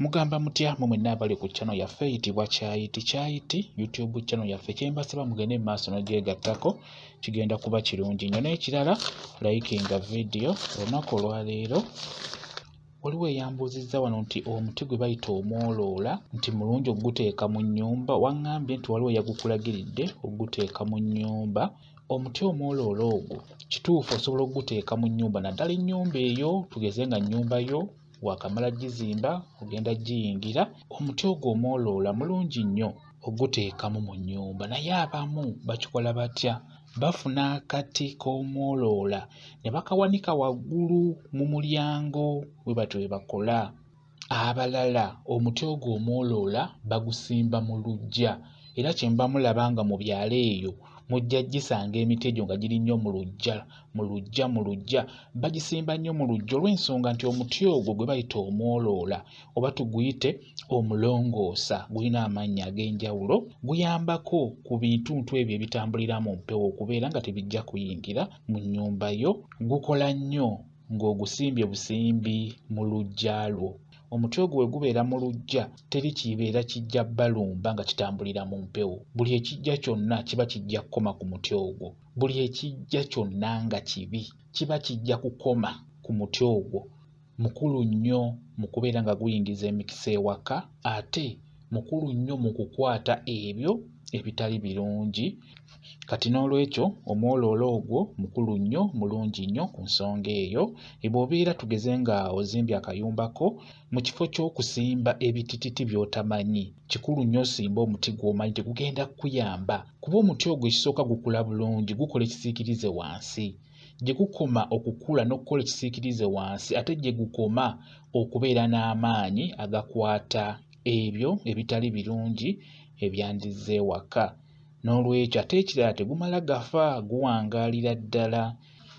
mugamba mutya mwe mwenna abali ku channel yaffe eyitibwa kyayiti kyayiti youtube channel yaffe kyembasaba mugende mu maaso nogyegattako kigenda kuba kirungi nnyo n'ekirala likinga vidiyo olunaku olwaleero waliwo eyambuuzizza wano nti omuti gwe bayita omwoloola nti mulungi okuguteeka mu nnyumba waŋŋambye nti waliwo yagukulagiridde okuguteeka mu nnyumba omuti omwoloola ogwo kituufu osobola okuguteeka mu nnyumba naddala ennyumba eyo tugeze nga nnyumba yo waakamala gizimba ogenda giyingira omuti ogwo omwoloola mulungi nnyo oguteekamu mu nnyumba naye abamu bakikola batya bafuna akati k'omwoloola ne bakawanika waggulu mu mulyango bwe batyo bwe bakola abalala omuti ogwo omwoloola bagusimba mu luggya era kye mba mulaba nga mu byalo eyo mujja gisanga emiti egyo nga giri nnyo mu luggya mu luggya mu luggya bagisimba nnyo mu luggya olw'ensonga nti omuti ogwo gwe bayita omwoloola oba tuguyite omulongoosa gulina amannya ag'enjawulo guyambako ku bintuntu ebyo ebitambulira mu mpewo okubeera nga tebijja kuyingira mu nnyumba yo gukola nnyo ng'ogusimbye busimbi mu luggya lwo omuti ogwo we gubeera mu luggya teri kibeera kijja balumba nga kitambulira mu mpewo buli ekijja kyonna kiba kijja kukoma ku muti ogwo buli ekijja kyonna nga kibi kiba kijja kukoma ku muti ogwo mukulu nnyo mu kubeera nga guyingiza emikisa ewaka ate mukulu nnyo mu kukwata ebyo ebitali birungi kati n'olwekyo omwoloola ogwo mukulu nnyo mulungi nnyo ku nsonga eyo ebw'obeera tugeze nga ozimbye akayumba ko mu kifo ky'okusimba ebitititi by'otamanyi kikulu nnyo osimba omuti gw'omanyi tegugenda kukuyamba kuba omuti ogwo ekisooka gukula bulungi gukola ekisiikirize wansi gye gukoma okukula n'okukola ekisiikirize wansi ate gye gukoma okubeera n'amaanyi agakwata ebyo ebitali birungi ebyandizze ewaka N'olwekyo ate ekirala tegumala gafa guwangaalira ddala.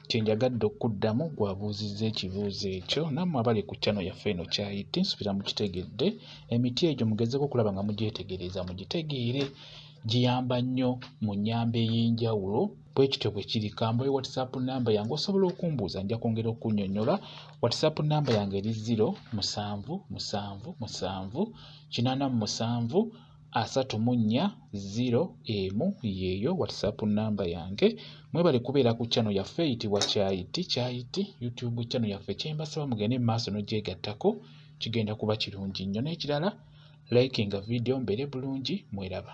Kye njagadde okukuddamu gwe abuuzizza ekibuuzo ekyo nammwe abali ku channel yaffe eno kyayite nsubira mukitegedde emiti egyo mugezeko okulaba nga mugyetegereza mugitegeere giyamba nnyo mu nnyamba ey'enjawulo bwe kityo bwe kiri kambayo whatsapp namba yange osobola okumbuuza nja kwongera okunyonyola whatsapp namba yange eri 0 musanvu musanvu musanvu kinaana mu musanvu asatu mu nnya ziro emu yeeyo whatsapp namba yange mwebale kubeera ku chano yaffe eyitibwa kyayiti kyayiti youtube chano yaffe kyembasaba mugende mu maaso nogyegattako kigenda kuba kirungi nnyo n'ekirala likinga vidiyo mbeere bulungi mweraba